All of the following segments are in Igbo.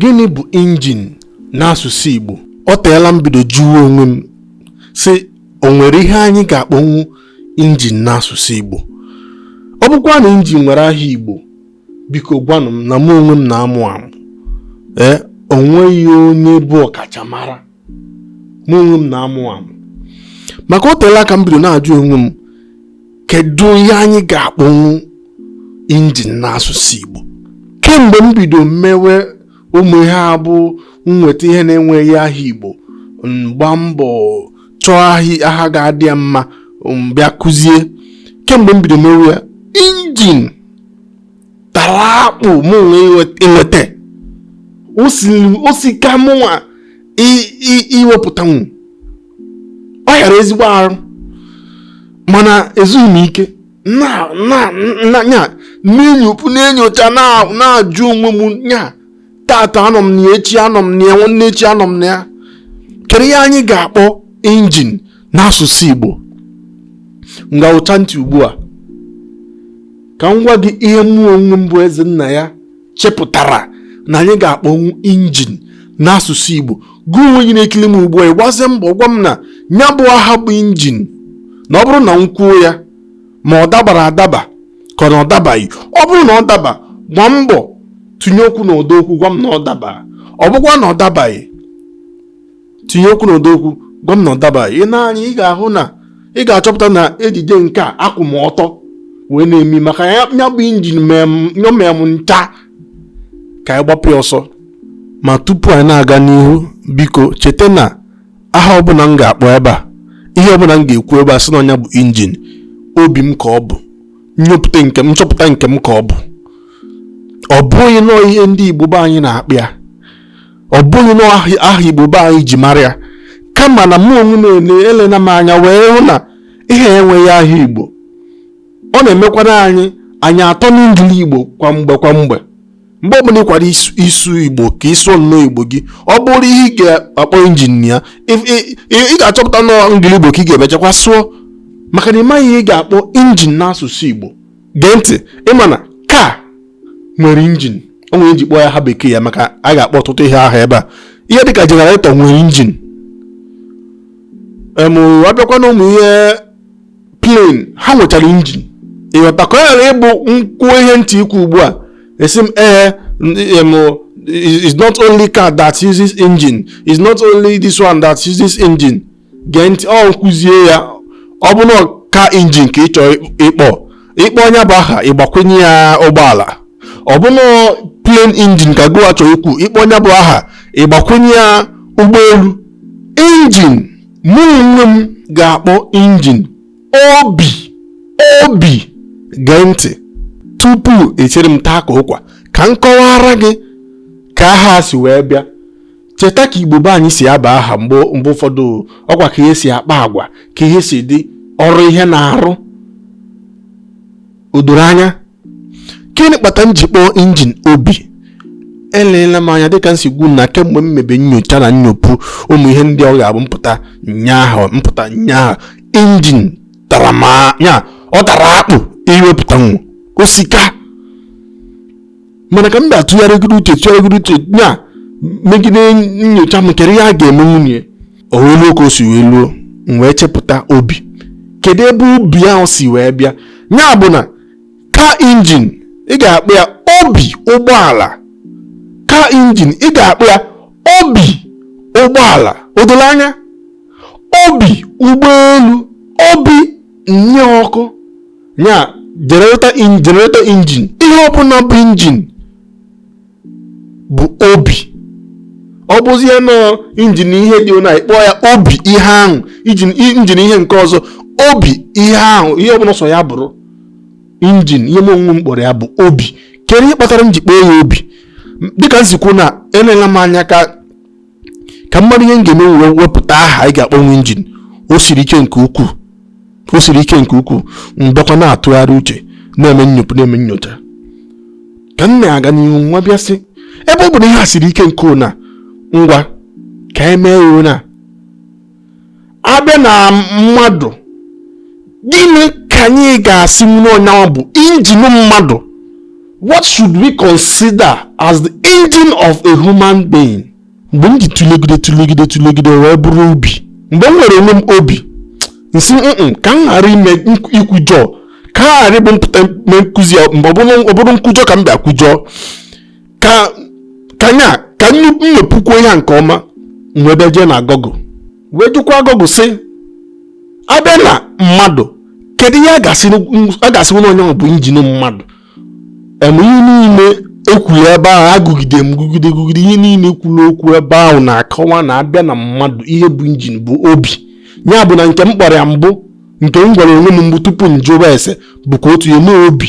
gịnị bụ injin n'asụsụ Igbo o teela m bido jụọ onwe m sị o nwere ihe anyị ga-akpọnwu injin n'asụsụ Igbo ọ bụkwa na injin nwere aha Igbo biko gwanụ m na mụ onwe m na-amụ amụ ee eh, o nweghị onye bụ ọkachamara mụ onwe m na-amụ amụ maka o teela aka m bido na-ajụ onwe m kedu ihe anyị ga-akpọnwu injin n'asụsụ Igbo kemgbe m bido mewe ụmụ ihe a bụ m nweta ihe na-enweghị aha Igbo m gbaa mbọ chọọ aha ga-adị ya mma m bịa kuzie kemgbe m bido mewe ya injin tara akpụ mụ inweta o sika mụnwa iwepụtanwu ọ hịara ezigbo arụ mana ezughị m ike na-enyocha na-ajụ onwe m nya tata anọ m na echi anọ m na ya nwanne echi anọ m na ya kedu ihe anyị ga-akpọ injin n'asụsụ Igbo ngwa wụchaa ntị ugbu a ka m gwa gị ihe mụ onwe m bụ Ezennaya chepụtara na anyị ga-akpọnwu injin n'asụsụ Igbo gụ onwe gị na-ekiri m ugbu a ị gbazie mbọ gwa m na ya bụ aha bụ injin na ọ bụrụ na m kwuo ya ma ọ dabara adaba ka na ọ dabaghị ọ bụrụ na ọ daba gbaa mbọ tụnye okwu na ụdọ okwu gwa m na ọ daba ọ bụkwa na ọ dabaghị tinye okwu n'ụdọ okwu gwa m na ọ dabaghị ị nee anya ị ga-ahụ na ị ga-achọpụta na ejije nke a akwụ m ọtọ wee na-eme ya maka ya bụ injin nyọmịa m ncha ka anyị gbapụ ya ọsọ ma tupu anyị na-aga n'ihu biko cheta na aha ọbụla m ga-akpọ ebe a ihe ọbụla m ga-ekwu ebe a sị na ọ nya bụ injin obi m ka ọ bụ nnyopụta nke m nchọpụta nke m ka ọ bụ ọ bụghị nọọ ihe ndị Igbo be anyị na-akpọ ya ọ bụghị nọọ aha igbo be anyị ji mara ya kama na mụ onwe m elena m anya wee hụ na ihe enweghị aha igbo ọ na-emekwa na anyị anyị atọ n'Engligbo kwa mgbe kwa mgbe mgbe ọbụla ị kwara ịsụ igbo ka ị sụọ nnọọ igbo gị ọ bụrụ ihe ị ga-akpọ injin ya ị ga-achọpụta na ọ Engligbo ka ị ga-emechakwa sụọ maka na ị maghị ihe ị ga-akpọ injin n'asụsụ igbo gee ntị ị ma na car nwere injin o nwere ihe m ji kpọọ ya aha bekee ya maka a ga-akpọ ọtụtụ ihe aha ebe a ihe dịka generator nwere injin em a bịakwa na ụmụ ihe plane ha nwechara injin ị ghọta ka ọ ghara ịbụ m kwuo ihe m chọ ikwu ugbu a ị sị m ee em is not only car that uses engine is not only this one that uses engine gee ntị ọ m kụzie ya ọ bụ na car injin ka ị chọ ịkpọ ị kpọọ nya bụ aha ị gbakwunye ya ụgbọala ọ bụ na plane injin ka gụwa chọrọ ikwu ị kpọọ nya bụ aha ị gbakwunye ya ụgbọelu injin mụ onwe m ga-akpọ injin obi obi gee ntị tupu echere m taa ka ụkwa ka m kọwara gị ka aha si wee bịa cheta ka igbo be anyị si aba aha mgbe mgbe ụfọdụ ọ kwa ka ihe si akpa agwa ka ihe si dị ọrụ ihe na-arụ o doro anya gịnị kpata m ji kpọọ injin obi eleela m anya dịka m si kwu na kemgbe m mebe nyocha na nnyopụ ụmụ ihe ndị ọ ga-abụ m pụta nye aha m pụta nye aha injin tara ma ya ọ tara akpụ iwepụtanwu o sika mana ka m bịa tụgharịgide uche tụgharịgide uche nya megide nyocha m kedu ihe a ga-emenwu nya o wee luo ka o si wee luo m wee chepụta obi kedu ebe obi ahụ si wee bịa ya bụ na car injin ị ga-akpọ ya obi ụgbọala car injin ị ga-akpọ ya obi ụgbọala o doro anya obi ụgbọelu obi nye ọkụ ya generator in generator engine ihe ọbụla bụ engine bụ obi ọ bụzie na ọ injin ihe dị na ị kpọọ ya obi ihe ahụ injin injin ihe nke ọzọ obi ihe ahụ ihe ọbụla ọ sọ ya bụrụ injin ihe m onwe m kpọrọ ya bụ obi kedu ihe kpatara m ji kpọọ ya obi M- dịka m si kwu na eleela m anya ka ka m mara ihe m ga-eme wee wepụta aha anyị ga-akpọnwu injin o siri ike nke ukwuu o siri ike nke ukwuu m bịakwa na-atụgharị uche na-eme nnyopụ na-eme nyocha ka m na-aga n'ihu m wee bịa sị ebe ọ bụ na ihe a siri ike nke na ngwa ka anyị mee ya na a bịa na mmadụ gịnị ka anyị ga-asịnwu na ọ nyanwa bụ injin mmadụ what should we consider as the engine of a human being mgbe m ji tụlegide tụlegide tụlegide wee bụrụ obi mgbe m nwere onwe m obi m sị mm ka m ghara ime ikwujọ ka m ghara ịbụ m pụta mee nkụzi mgbe ọ bụrụ nkwujọ ka m bịa kwujọọ ka ka nya ka m nepụkwuo ya nke ọma wee bịa jee na Google wee jụkwa Google sị a bịa na mmadụ kedu ihe a ga-asị na ọ nya bụ injin mmadụ em ihe niile e kwuru ebe ahụ agụgide m gụgide gụgide ihe niile kwuru okwu ebe ahụ na-akọwa na abịa na mmadụ ihe bụ injin bụ obi ya bụ na nke m kpọrọ ya mbụ nke m gwara onwe m mbụ tupu m jụwa ese bụkwa otu ya na obi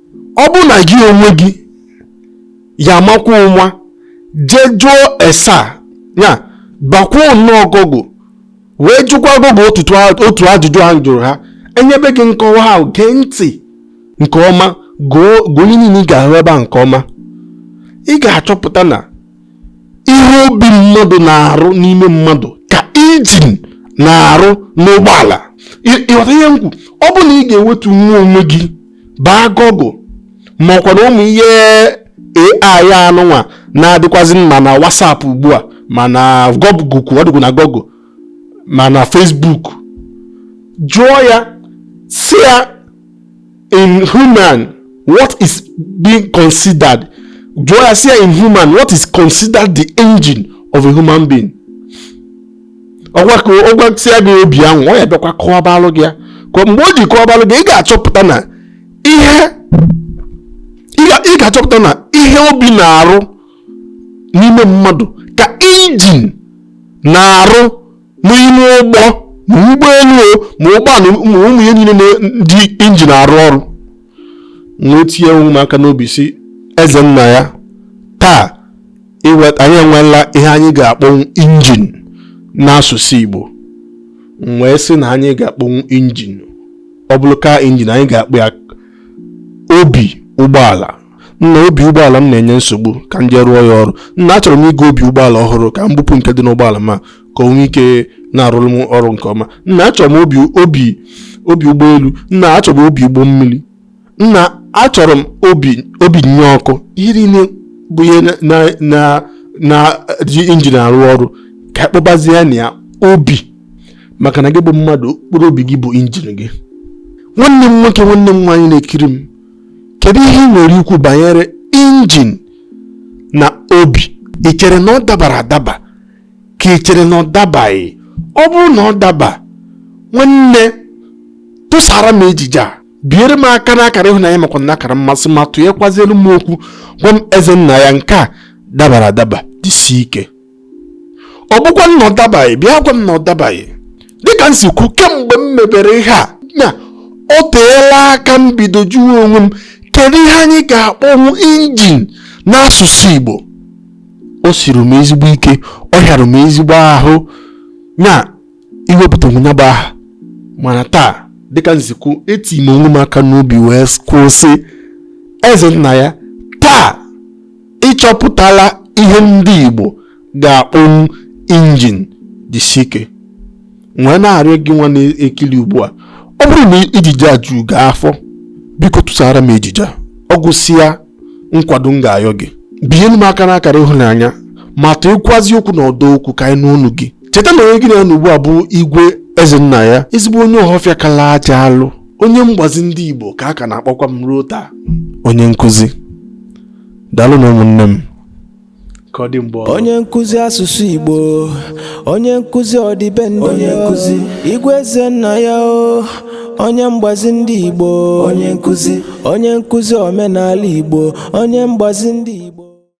ọ bụrụ na gị onwe gị ya amakwa ụnwa jee jụọ ese ya bakwuo na Google wee jụkwa Google otu ajụjụ ahụ m jụrụ ha enyebe gị nkọwa ha gee ntị nke ọma gụọ ihe niile ị ga-ahụ ebe a nke ọma ị ga-achọpụta na ihe obi mmadụ na-arụ n'ime mmadụ ka injin na-arụ n'ụgbọala ị ghọta ihe m kwu ọ bụ na ị ga-ewetu nwa onwe gị baa Google makwa na ụmụ ihe AI anụnwa na-adịkwazị ma na WhatsApp ugbu a ma na Google ọ dịkwa na Google ma na Facebook jụọ ya sị ya in human what is being considered jụọ ya sị ya in human what is considered the engine of a human being ọ gwa ka ọ gwasịa gị obi ahụ ọ ya-abịakwa kọwabalụ gị ya ka mgbe o ji kọwabalụ gị ị ga-achọpụta na ihe ị ga-achọpụta na ihe obi na-arụ n'ime mmadụ ka injin na-arụ n'ime ụgbọ ma ụgbọelu o ma ụgbọala ma ụmụ ihe niile na-eji injin arụ ọrụ m wee tinye onwe m aka n'obi sị eze nna ya taa anyị enweela ihe anyị ga-akpọnwu injin n'asụsụ Igbo m wee sị na anyị ga-akpọnwu injin ọ bụrụ car injin anyị ga-akpọ ya obi ụgbọala nna obi ụgbọala m na-enye nsogbu ka m jee rụọ ya ọrụ nna achọrọ m ịgo obi ụgbọala ọhụrụ ka m bupụ nke dị n'ụgbọala m ka o nwee ike na-arụrụ m ọrụ nke ọma nna achọrọ m obi obi obi ụgbọelu nna achọrọ m obi ụgbọ mmiri nna achọrọ m obi obi nye ọkụ ihe niile bụ ihe na-eji injin arụ ọrụ ka a kpọbazie nya obi maka na gị bụ mmadụ mkpụrụ obi gị bụ injin gị nwanne m nwoke nwanne m nwaanyị na-ekiri m kedu ihe ị nwere ikwu banyere injin na obi ị chere na ọ dabara adaba ka ị chere na ọ dabaghị ọ bụrụ na ọ daba nwanne tụsara m ejije a biere m aka n'akara ịhụnanya makwa na akara mmasị ma tụnyekwazielụ m okwu gwa m eze nna ya nke a dabara adaba jisi ike ọ bụkwanụ na ọ dabaghị bịa gwa m na ọ dabaghị dịka m si kwu kemgbe m mebere ihe a na o teela aka m bido jụọ onwe m kedu ihe anyị ga-akpọnwu injin n'asụsụ Igbo o siri m ezigbo ike ọ hịara m ezigbo ahụ na iwepụtanwu ya bụ aha mana taa dịka m si kwu eti m onwe m aka n'obi wee kwu sị eze nna ya taa ịchọpụtala ihe ndị Igbo ga-akpọnwu injin jisi ike m wee na-arịọ gị nwa na-ekili ugbu a ọ bụrụ na ejije a juru gị afọ biko tụsara m ejije ọ gwụsịa nkwado m ga-ayọ gị binyelu m aka n'akara ịhụnanya ma tụịkwazị okwu n'ọdọ okwu ka anyị nụ ọnụ gị cheta na onye gị na ya nọ ugbu a bụ igwe Ezennaya ezigbo onye ọhọfịa kala aja alụ onye mgbazi ndị Igbo ka a ka na-akpọkwa m ruo taa onye nkụzi daalụnụ ụmụnne m ka ọ dị mgbe ọzọ onye nkụzi asụsụ igbo onye nkụzi ọdịbendị onye nkụzi igwe Ezennaya o onye mgbazi ndị igbo onye nkụzi onye nkụzi omenala igbo onye mgbazi ndị igbo